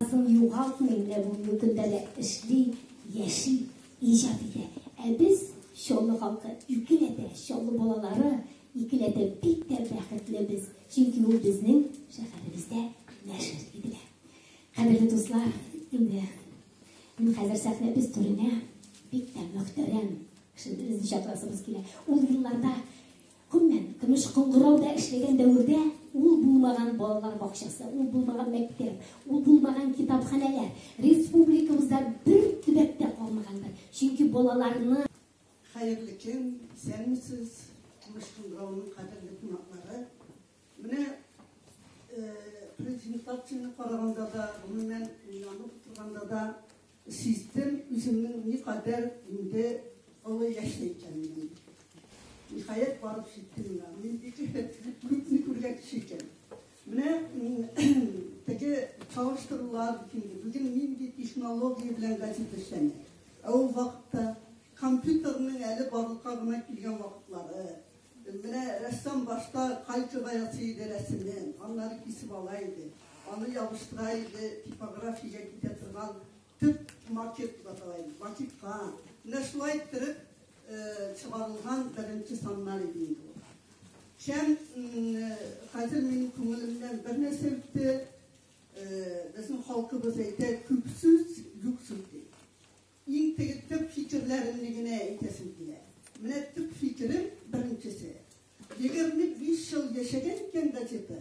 Язын югалтмый, менә бүгенге көндә дә эшли, яши, иҗат итә. Ә без Чаллы халкы икеләтә, Чаллы балалары икеләтә бик тә бәхетле без, чөнки ул безнең шәһәребездә нәшер ителә. Кадерле дуслар, инде мин хәзер сәхнәбез түренә бик тә мөхтәрәм кешебезне чакырасыбыз килә. Ул елларда Гомумән, көмеш кыңгырауда эшләгән дәвердә ул булмаган балалар бакчасы, ул булмаган мәктәп, ул булмаган китапханәләр республикабызда бер төбәк тә калмагандыр. Чөнки балаларны. Хәерле көн, исәнмесез, Көмеш кыңгырауның кадерле кунаклары. Менә презентацияне караганда да, гомумән, уйланып утырганда да, Сиздем үземнең никадәр инде олы яшьле икәнемне. Ниһаять барып җиттем миңа. Мин бик эффектле күпне күргән кеше икән. Менә теге чагыштырулар инде. Бүген нинди технология белән газета эшләнә. Ә ул вакытта компьютерның әле барлыкка гына килгән вакытлары. Менә рәссам башта кальцога ясый иде рәсемне, аннары кисеп ала иде, аны ябыштыра иде, типографиягә китә торган төп макет дип атала иде, макетка. Менә шулай иттереп чыгарылган беренче саннар иде инде ул. Шәм хәзер минем күңелемнән бер нәрсә үтте, безнең халкыбыз әйтә, күп сүз, юк сүз ди. Иң теге төп фикерләремне генә әйтәсем килә. Менә төп фикерем, беренчесе, егерме биш ел яшәгән икән газета,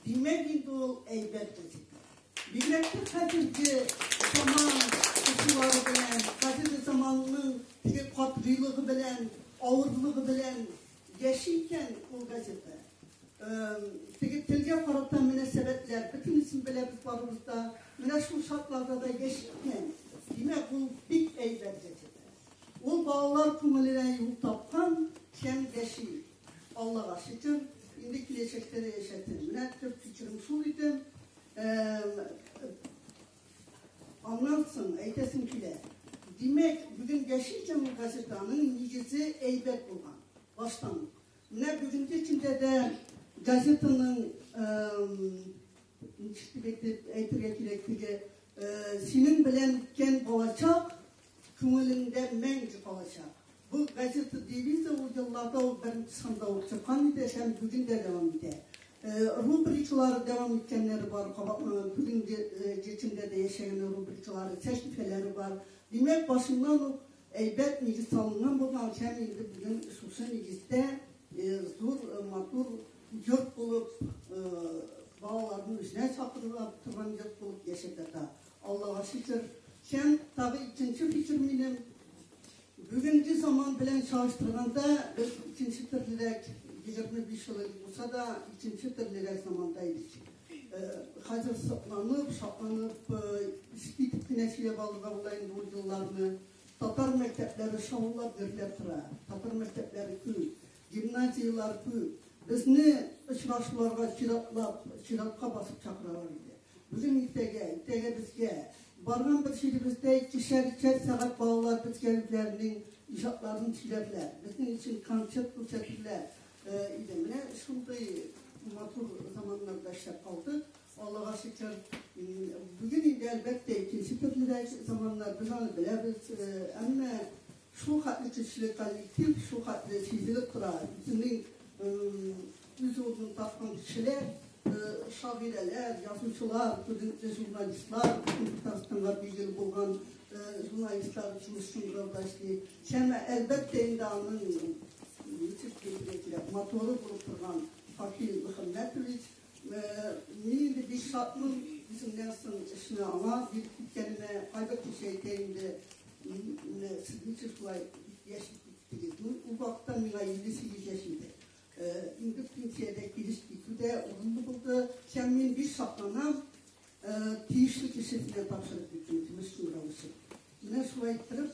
димәк инде ул әйбәт газета. Бигрәк тә хәзерге заман укучылары белән, хәзерге заманның теге катгыйлыгы белән, авырлыгы белән Яши икән ул газета. Теге телгә карата мөнәсәбәтләр, бөтенесен беләбез барыбыз да. Менә шул шартларда да яши икән. Димәк, ул бик әйбәт газета. Ул балалар күңеленә юл тапкан һәм яши. Аллага шөкер, инде киләчәктә дә яшәтер. Менә төп фикерем шул иде. Аннан соң әйтәсем килә. Димәк, бүген Яшел җәмгыять газетаның нигезе әйбәт булган. Баштан ук. Менә бүгенге көндә дә газетаның ничек дип әйтергә кирәк, теге синең белән үткән балачак күңелеңдә мәңге калачак. Бу газета девизы ул елларда ул беренче санда ук чыккан иде һәм бүген дә дәвам итә. Рубрикалары дәвам иткәннәре бар, бүгенге җечендә дә яшәгән рубрикалары, сәхифәләре бар. Димәк, башыннан ук әйбәт нигез салынган булган һәм инде бүген шушы нигездә зур матур йорт булып балаларны үзенә чакырып торган йорт булып яшәп ята. Аллага шөкер. Һәм тагы икенче фикер минем. Бүгенге заман белән чагыштырганда без икенче төрлерәк 25 ел булса да икенче төрлерәк заманда идек. Хәзер сокланып, шатланып, ишетеп кенә сөйләп алырга була инде ул елларны. Татар мәктәпләре шаулап гөрләп тора. Татар мәктәпләре күп. Гимназияләр күп. Безне очрашуларга чиратлап, чиратка басып чакыралар иде. Бүген иртәгә, иртәгә безгә. Барган бер җиребездә икешәр-өчәр сәгать балалар безгә үзләренең иҗатларын сөйләрләр. Безнең өчен концерт күрсәтерләр иде. Менә шундый матур заманнарда эшләп калдык. Аллага шөкер, бүген инде әлбәттә икенче төрлерәк заманнар, без аны беләбез. Әмма Шул хәтле көчле коллектив, шул хәтле сизелеп тора. Үзенең үз урынын тапкан кешеләр, шагыйрәләр, язучылар, күренекле журналистлар, Татарстанга билгеле булган журналистлар җыелышын грауда эшли. Шәмә, әлбәттә, инде аның ничек килергә кирәк, моторы булып торган Факил Мөхәммәтович, Мин инде бик шатмын, үземнән соң эшне аңа биреп киткәнемә, кайбер кеше әйтә инде, сез ничек шулай яшәп киттегез? Ну, ул вакытта миңа 58 яшь иде. Инде пенсиядә килеш китү дә урынлы булды, һәм мин бик шатланам, тиешле кешесенә тапшырып киттем, тимеш рәвешле. Менә шулай итеп,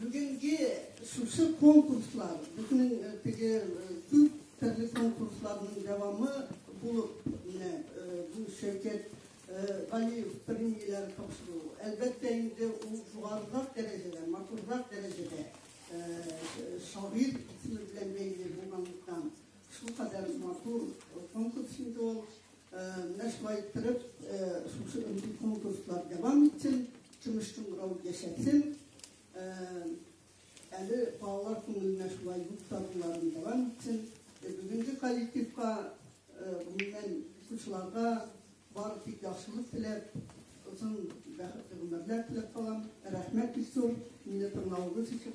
Бүгенге шушы конкурслар, безнең теге күп төрле конкурсларның дәвамы булып, менә бу Шәүкәт Галиев премияләр тапшыру. Әлбәттә инде ул югарырак дәрәҗәдә, матуррак дәрәҗәдә шагыйр исеме белән бәйле булганлыктан Шул кадәр матур конкурс инде ул. Менә шулай иттереп, шушы өнди конкурслар дәвам итсен, тыныч туңгырау яшәтсен. Әле балалар күңеленә шулай юк табуларын дәвам итсен. Бүгенге коллективка, гомумән, укучыларга бар тик яхшылык теләп, озын бәхетле гомерләр теләп калам. Рәхмәт бик зур, мине тыңлавыгыз өчен.